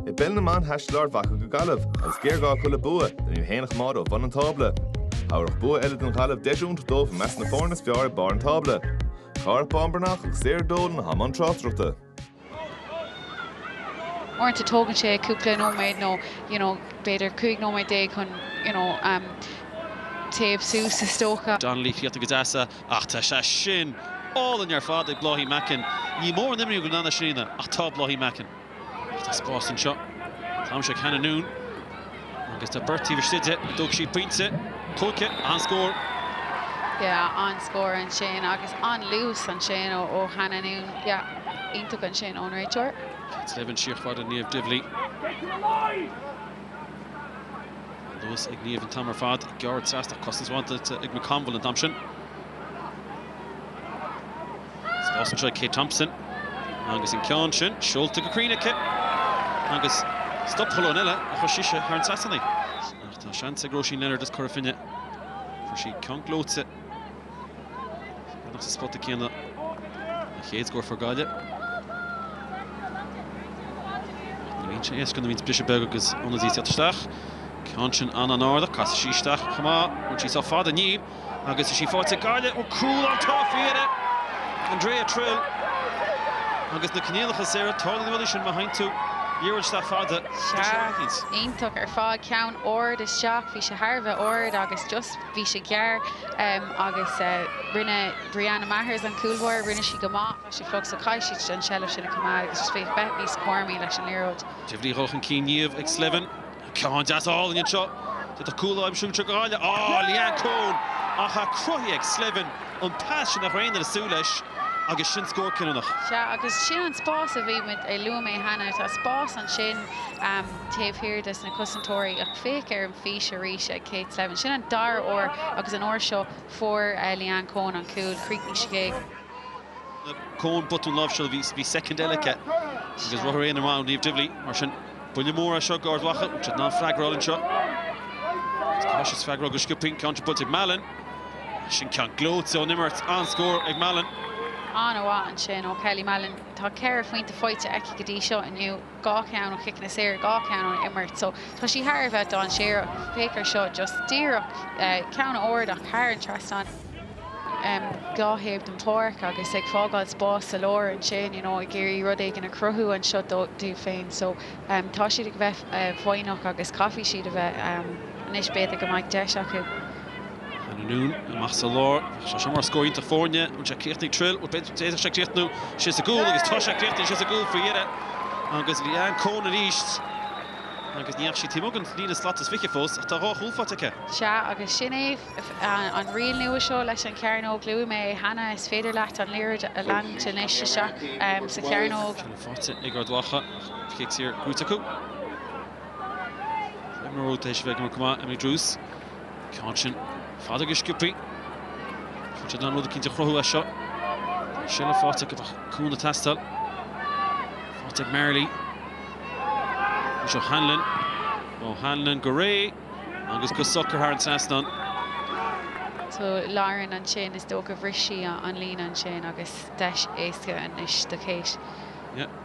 I bpeil na mban thaistil Ard Mhacha go Gaillimh agus géarghá acu le bua le hiad féin a choimeád ó bhun an tábla. Thabharfadh bua eile don Ghaillimh deis iontach dóibh i measc na foirne is fearr ag barr an tábla. Gearóid Bán Breathnach agus Sarah Dolan i mbun tráchtaireachta. uaireanta tógann sé cúpla nóiméad nó you know b'fhéidir cúig nóiméad déag chun you know téamh suas is dócha. Donnelly fíorta go deas. Ach tá sé sin álainn ar fad ag Bláithín Mackin. Ní mór an imní go ndeanfadh sí na, ach tá Bláithín Mackin. Ach tá spás anseo. Táimse ag Hannah Noone agus tá beirt taobh istigh de, ag dó sí pointe. Gleoite, an-scór. Yeah, an-scór ansin agus an-luas ansin ó Hannah Noone. Yeah, iontach ansin ón réiteoir. Cé a d'fhaibhin siar fada Niamh Divilly? Luas ag Niamh an t-am ar fad. Gearr trasna ach cosaint mhaith ag McConville an t-am sin. Spás anseo ag Kate Thompson agus an ceann sin seolta go cruinn aici agus scuab Coen eile a chuir sise thar an trasnán ach tá seans ag Róisín Leonard is cur chun cinn. Fuair sí ceann gleoite. Bheadh sa spota céanna an chéad scór ag Gaillimh. Ní bhíonn sé éasca nuair a bhíonns briseadh beag agus ionadaí ag teacht isteach. Ceann sin an-an-ard ach, casfaidh sí isteach chomh maith. Bhain sí seo fada inniu agus bhí sí fáilte ag Gaille. Ó cúl ann tá fíre! Andrea Trill agus na coinníollacha saora, tarlaíonn na rudaí sin má sheolann tú liathróid isteach fada. Sea, iontach ar fad. Ceann ard isteach, bhí sé thar a bheith ard agus just. bhí sé gearr agus rinne Brianna Mathers an cúlbáire, rinne sí go maith, tá sé fliuch so caithfidh siad an seilbh sin a choimeád agus is fiú bheith níos cúramaí leis an liathróid. Divilly dhul chun cinn Niamh ag Slevin, ceann deas álainn anseo, d'fhéadfadh cúl a aimsiú anseo go háirithe, á, Leanne Coen! Ach tá cruthaithe ag Slevin an pas sin a tharraing lena súil leis agus sin scór cinniúnach. Sea, agus sin an spás a bhí muid, a luaigh mé cheana, tá spás ansin taobh thiar de na cosantóirí ach féach ar fís arís ag Kate Slevin. Sin an dara huair agus an uair seo fuair Leanne Coen an cúl. Chríochnaigh sí ag. Coen botún láimhseála, bhí soicind eile aici agus ruathar aon amháin Niamh Divilly. Mar sin, buille mór é seo d'Ard Mhacha, bhfuil siad in ann freagra a fháil anseo? Agus tá siad ag freagairt go scioptha in counter punch ag Mallon. Sin ceann gleoite ón imirt, an-scór ag Mallon. An-mhaith ansin ó Kelly Mallon. Tá ceithre phointe faighte aici go dtí seo inniu. dhá cheann ó chiceanna saor, dhá cheann ón imirt. So tá sí thar a bheith dainséarach. Féach ar seo, just díreach ceann ard ach thar an trasnán, dhá thaobh den pháirc agus ag fágáil spás sa lár ansin, you know ag iarraidh rud éigin a chruthú anseo dóibh féin. So tá siad ag bheith foighneach agus caithfidh siad a bheith. Anois b'fhéidir go mbeidh deis acu. Anonn amach sa lár. Bheadh sé seo mar scór iontach foirne. An bhfuil sé ag goil a chríochnú thríd? Bhuel, d'fhéadfadh sé críochnú sé sa gcúl agus tá sé ag críochnú sa gcúl faoi dheireadh. Agus Leanne Coen arís. Agus ní raibh sí taobh amuigh den líne slat is fiche fós ach tá dhá chúl faighte aici. Sea, agus sin é an riail nua seo leis an Chearnóg. Luaigh mé é cheana, is féidir leat an liathróid a leanúint anois isteach sa Chearnóg. Cinneadh faighte ag Ard Mhacha ach cic saor brúite acu. Emma Root tar éis a bheith ag imirt go maith, Emily Druse. Ceann sin fada go sciobtha. Tá siad in ann rud eicínt a chruthú as seo. Bhí sé le fáil acu ach cúnamh ag teastáil. Faighte ag Marley. Is é O'Hanlon. O'Hanlon go réidh agus go socair thar an trasnán. Tá Lauren ansin, is dócha bhris sí an líne ansin agus deis éasca anois do Cáit.